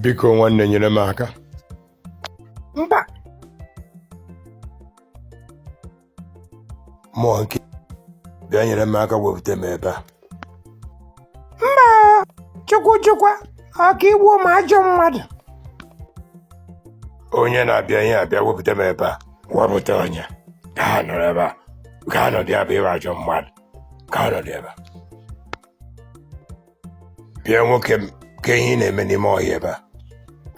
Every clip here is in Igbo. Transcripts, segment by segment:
biko nwanne nyere m aka mba nwoke bịa nyere m aka wepụta m ebe a mba chukwu chukwa ọ ka i gbuo m ajọ mmadụ onye na-abịa ihe a bịa wepụta m ebe a wepụta onye ka ha nọrọ ebe a ka ha nọdụ ya bụ ị wụ ajọ mmadụ ka ha nọdụ ebe a bịa nwoke m kee ihe ị na-eme n'ime ọhịa ebe a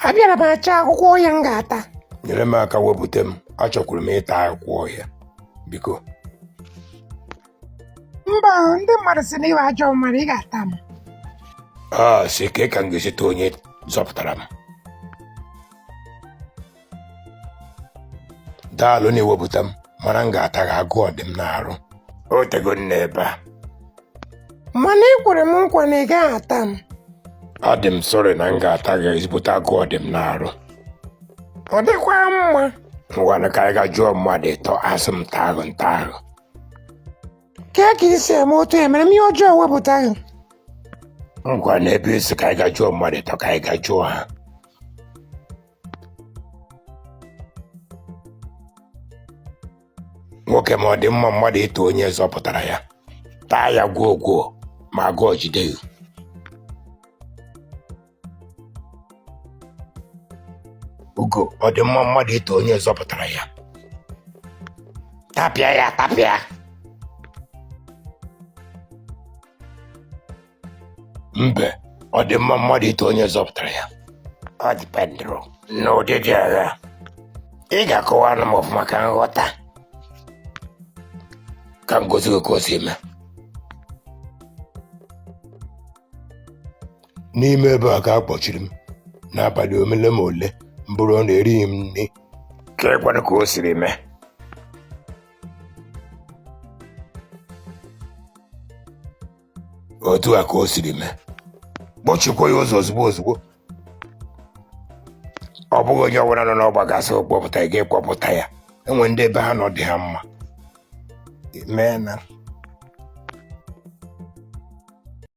abịara m achọ akwụkwọ ọhịa m ga-ata nyere m aka wepụta m achọkwuru m ịta akwụkwọ ọhịa biko mba o, ndị mmadụ sị na ị wụ ajọ mmadụ ị ga-ata m asị kee ka m ga-esi taa onye zọpụtara m daalụ n'iwepụta m mana m ga-ata gị agụụ dị m n'arụ o teego m nọ ebe a mana ị kwere m nkwa na ị gaghị ata m ọ dị m sorry na m ga-ata gị ezigbote agụụ dị m n'arụ ọ dịkwa mma ngwanụ ka anyị ga jụọ mmadụ ịtọ a sị m taa gị m taa gị kee ka i si eme otu emere m ihe ọjọọ wepụta gị ngwa na ebe ị sị ka anyị ga jụọ mmadụ ịtọ ka anyị ga jụọ ha nwoke m ọ dị mma mmadụ ịta onye zọpụtara ya taa ya gwuo gwuo ma agụụ jide gị ugo ọ dị mma mmadụ ịta onye zọpụtara ya tapịa ya tapịa mbe ọ dị mma mmadụ ịta onye zọpụtara ya ọ dependụrụ n'ụdị dị agha ị ga-akọwanụ m ọfụma ka m ghọta ka m gosi gị ka o siri mee n'ime ebe a ka a kpọchiri m n'abalị omele ma ole m buru ọnụ erighị m nri keekwanụ ka o siri mee otu a ka o siri mee kpọchikwa ya ụzọ ozugbo ozugbo ọ bụghị onye ọbụla nọ n'ọgba ga-asị kpọpụta ị ga-akpọpụta ya e nwere ndị ebe ha nọ dị ha mma mee na